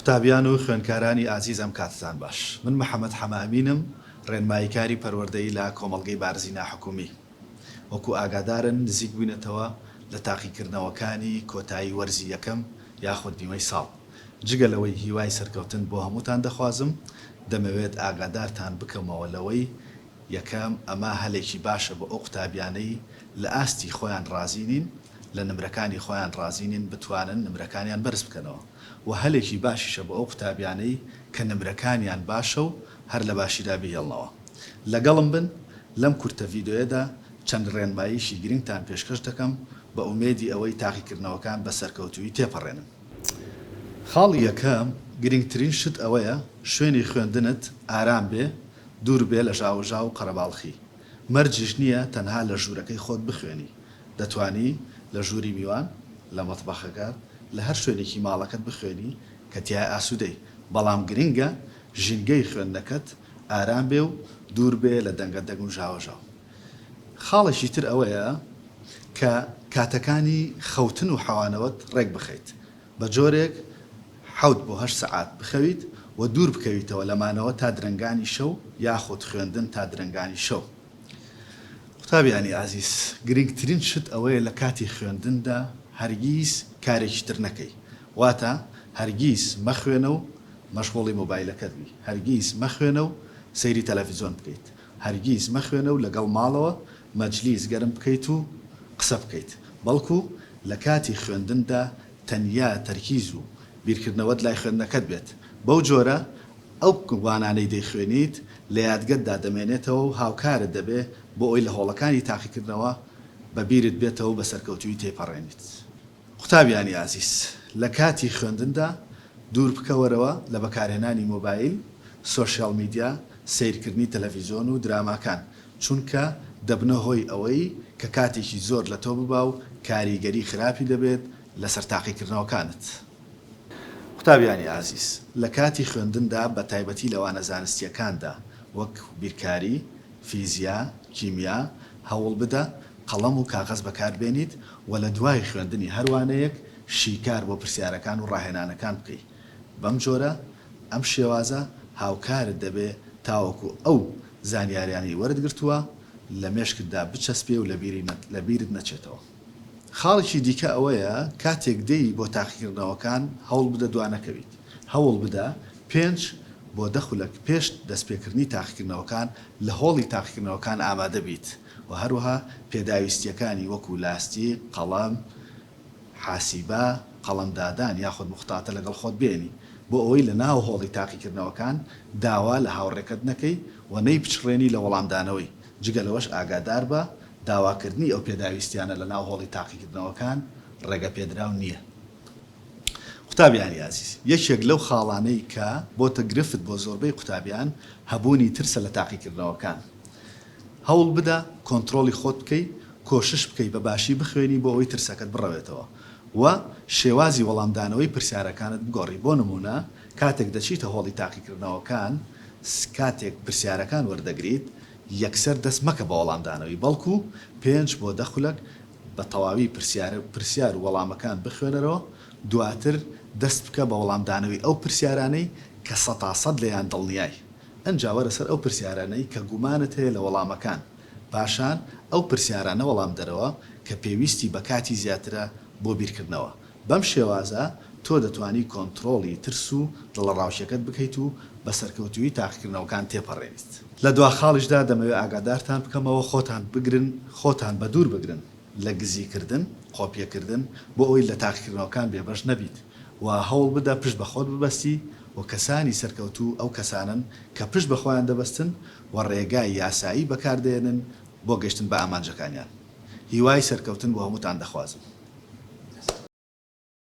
قوتابیان و خوێندکارانی ئازیز ئەم کاتتان باش. من محەمەد حەمە ئەمینم، ڕێنماییکاری پەروەردەیی لە کۆمەڵگەی بارزی ناحکومی. وەکو ئاگادارن نزیک بووینەتەوە لە تاقیکردنەوەکانی کۆتایی وەرزی یەکەم یاخود نیوەی ساڵ. جگە لەوەی هیوای سەرکەوتن بۆ هەمووتان دەخوازم، دەمەوێت ئاگادارتان بکەمەوە لەوەی، یەکەم، ئەمە هەلێکی باشە بۆ ئەو قوتابیانەی لە ئاستی خۆیان ڕازی نین، لە نمرەکانی خۆیان ڕازی نین بتوانن نمرەکانیان بەرز بکەنەوە و هەلێکی باشیشە بۆ ئەو قوتابیانەی کە نمرەکانیان باشە و هەر لە باشیدا بیهێڵنەوە. لەگەڵم بن، لەم کورتە ڤیدۆیەدا چەند ڕێنماییەکی گرنگتان پێشکەش دەکەم بە ئومێدی ئەوەی تاقیکردنەوەکان بە سەرکەوتوویی تێپەڕێنن. خاڵی یەکەم، گرنگترین شت ئەوەیە شوێنی خوێندنت ئارام بێ، دوور بێ لە ژاوەژاو و قەرەباڵخی. مەرجیش نییە تەنها لە ژوورەکەی خۆت بخوێنی، دەتوانی لە ژووری میوان، لە مەتبەخەکە، لە هەر شوێنێکی ماڵەکەت بخوێنی کە تیا ئاسوودەی، بەڵام گرنگە ژینگەی خوێندنەکەت ئارام بێ و دوور بێ لە دەنگە دەنگ و ژاوەژاو. خاڵێکی تر ئەوەیە کە کاتەکانی خەوتن و حەوانەوەت ڕێک بخەیت، بە جۆرێک حەوت بۆ هەشت سەعات بخەویت و دوور بکەویتەوە لە مانەوە تا درەنگانی شەو یاخود خوێندن تا درەنگانی شەو. قوتابیانی ئازیز، گرنگترین شت ئەوەیە لە کاتی خوێندندا هەرگیز کارێکی تر نەکەی، واتە هەرگیز مەخوێنە و مەشغوڵی مۆبایلەکەت بی، هەرگیز مەخوێنە و سەیری تەلەفیزۆن بکەیت، هەرگیز مەخوێنە و لەگەڵ ماڵەوە مەجلیس گەرم بکەیت و قسە بکەیت، بەڵکو لە کاتی خوێندندا تەنیا تەرکیز و بیرکردنەوەت لای خوێندنەکەت بێت، بەو جۆرە ئەو وانانەی دەیخوێنیت لە یادگەتدا دەمێنێتەوە و هاوکارت دەبێت بۆ ئەوەی لە هۆڵەکانی تاقیکردنەوە بە بیرت بێتەوە و بە سەرکەوتوویی تێیپەڕێنیت. قوتابیانی ئازیز، لە کاتی خوێندندا دوور بکەوەرەوە لە بەکارهێنانی مۆبایل، سۆشیاڵ میدیا، سەیرکردنی تەلەڤیزیۆن و دراماکان، چونکە دەبنە هۆی ئەوەی کە کاتێکی زۆر لە تۆ ببا و کاریگەری خراپی دەبێت لەسەر تاقیکردنەوەکانت. قوتابیانی ئازیز، لە کاتی خوێندندا بە تایبەتی لە وانە زانستییەکاندا وەک بیرکاری، فیزیا، کیمیا، هەوڵ بدە قەڵەم و کاغەز بەکار بێنیت و لە دوای خوێندنی هەر وانەیەک شیکار بۆ پرسیارەکان و ڕاهێنانەکان بکەی. بەم جۆرە ئەم شێوازە هاوکارت دەبێ تاوەکو ئەو زانیاریانەی وەرت گرتووە لە مێشکتدا بچەسپێ و لە بیرت نەچێتەوە. خاڵێکی دیکە ئەوەیە کاتێک دێی بۆ تاقیکردنەوەکان هەوڵ بدە دوا نەکەویت. هەوڵ بدە پێنج بۆ دە خولەک پێش دەستپێکردنی تاقیکردنەوەکان لە هۆڵی تاقیکردنەوەکان ئامادە بیت. و هەروەها پێداویستییەکانی وەکو لاستیک، قەڵەم، حاسیبە، قەڵەمدادان یاخود موختاتە لەگەڵ خۆت بێنی بۆ ئەوەی لە ناو هۆڵی تاقیکردنەوەکان داوا لە هاوڕێکەت نەکەی و نەیبچڕێنی لە وەڵامدانەوەی، جگە لەوەش ئاگاداربە داواکردنی ئەو پێداویستیانە لە ناو هۆڵی تاقیکردنەوەکان ڕێگەپێدراو نییە. قوتابیانی ئازیز، یەکێک لەو خاڵانەی کە بۆتە گرفت بۆ زۆربەی قوتابیان هەبوونی ترسە لە تاقیکردنەوەکان، هەوڵ بدە کۆنترۆڵی خۆت بکەی کۆشش بکەی بە باشی بخوێنی بۆ ئەوەی ترسەکەت بڕەوێتەوە و شێوازی وەڵامدانەوەی پرسیارەکانت بگۆڕی بۆ نموونە کاتێک دەچیتە هۆڵی تاقیکردنەوەکان کاتێک پرسیارەکان وەردەگریت یەکسەر دەست مەکە بە وەڵامدانەوەی بەڵکو پێنج بۆ دە خولەک بە تەواوی پرسیار پرسیار و وەڵامەکان بخوێنەرەوە دواتر دەست بکە بە وەڵامدانەوەی ئەو پرسیارانەی کە سەتاسەد لێیان دڵنیای ئنجا وەرە سەر ئەو پرسیارانەی کە گومانت هەیە لە وەڵامەکان، پاشان ئەو پرسیارانە وەڵام دەرەوە کە پێویستی بە کاتی زیاترە بۆ بیرکردنەوە. بەم شێوازە تۆ دەتوانی کۆنتڕۆڵی ترس و دڵەڕاوکێکەت بکەیت و بە سەرکەوتوویی تاقیکردنەوەکان تێپەڕێنیت. لە دوا خاڵیشدا دەمەوێت ئاگادارتان بکەمەوە خۆتان بگرن، خۆتان بەدوور بگرن لە گزیکردن، قۆپیەکردن، بۆ ئەوەی لە تاقیکردنەوەکان بێبەش نەبیت و هەوڵ بدە پشت بە خۆت ببەستی و کەسانی سەرکەوتوو ئەو کەسانەن کە پشت بە خۆیان دەبەستن و ڕێگای یاسایی بەکار دەێنن بۆ گەشتن بە ئامانجەکانیان. هیوای سەرکەوتن بۆ هەمووتان دەخوازم.